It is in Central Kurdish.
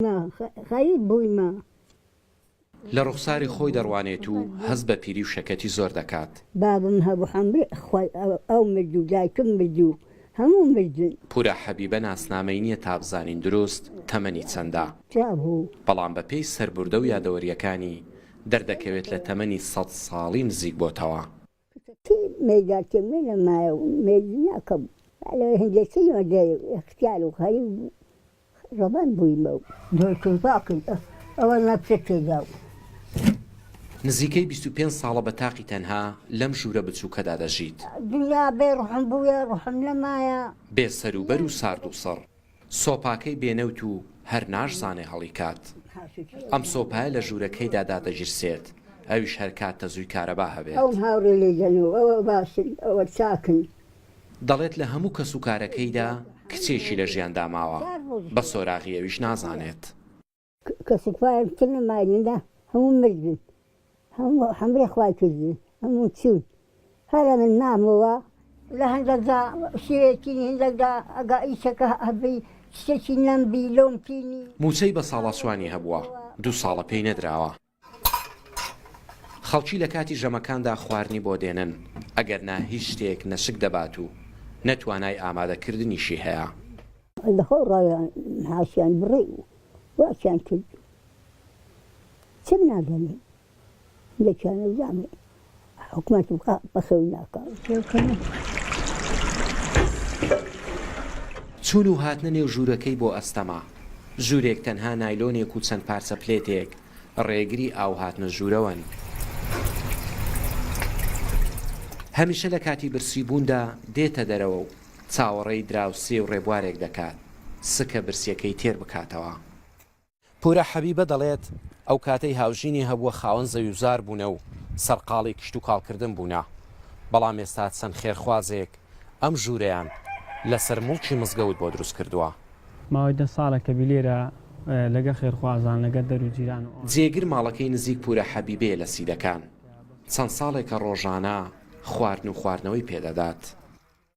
نا خەریک بوویمە. لە ڕوخساری خۆی دەڕوانێت و هەست بە پیری و شەکەتی زۆر دەکات. بابم هەبوو حەمرێ خوای ئەو مرد و دایکم مرد و هەموو مردن. پورا حەبیبە ناسنامەی نیە تا بزانین دروست تەمەنی چەندە. چیا بوو؟ بەڵام بە پێی سەربوردە و یادەوەریەکانی دەردەکەوێت لە تەمەنی سەد ساڵی نزیک بۆتەوە. چونکە کەی مێیدار تێ مێ نەمایە و مێی دنیا کەم بوو، با لەوەی هەندێ کەی مە دەێ و ئێختیار و غەریب بوو، ڕەبەن بوویمە و دۆی کوردپا کرد ئە وە نە پرە تێ دا و. نزیکەی بیست و پێنج ساڵە بە تاقی تەنها لەم ژوورە بچووکەدا دەژیت. دنیا بێ ڕوحم بوویە، ڕوحم نەمایە. بێ سەروبەر و ساردوسڕ. سۆپاکەی بێ نەوت و هەر ناشزانێ هەڵیکات. ئەم سۆپایە لە ژوورەکەیدا دادەگیرسێت، ئەویش هەر کات تەزووی کارەبا هەبێت. دەڵێت لە هەموو کەسوکارەکەیدا کچێکی لە ژیاندا ماوە، بە سۆراغی ئەویش نازانێت. کەسک پایەک تر لە مایندا هەموو مردن هەموو حەمرە خوای کردن هەموو چوون هەر ئەمن مامەوە لە هەندەکدا شێوێکی هندەکدا ئەگا ئیشەکە هەبی شتێکی نەمبی لۆمتینی. موچەی بە ساڵاسوانی هەبووە دوو ساڵە پێی نەدراوە. خەڵکی لە کاتی ژەمەکاندا خواردنی بۆ دێنن، ئەگەر نا هیچ شتێک نە شک دەبات و نە توانای ئامادەکردنیشی هەیە. لە خۆڵ ڕایان هاتیان بڕێ و واتیان کرد چەک نادەنێن، یەکیان ئەزانێ حکومەت بکا بەخێو ناکا. چوون و هاتنە نێو ژوورەکەی بۆ ئەستەمە. ژوورێک تەنها نایلۆنێک و چەند پارچە پلێتێک ڕێگری ئاو هاتنە ژوورەوەن. هەمیشە لە کاتی برسی بووندا دێتە دەرەوە و چاوەڕێی دراوسێ و ڕێبوارێک دەکات سکە برسیەکەی تێر بکاتەوە. پورە حەبیبە دەڵێت، ئەو کاتەی هاوژینی هەبووە خاوەن زەویوزار بوونە و سەرقاڵی کشتوکاڵکردن بوونە، بەڵام ئێستا چەند خێرخوازێک ئەم ژوورەیان لەسەر موڵکی مزگەوت بۆ دروست کردووە. ماوەی دە ساڵە کە بیلێرە لەگەڵ خێرخوازان، لەگەڵ دەر و جیران و. جێگر ماڵەکەی نزیک پورە حەبیبەیە لە سیدەکان، چەند ساڵێکە ڕۆژانە خواردن و خواردنەوەی پێ دەدات.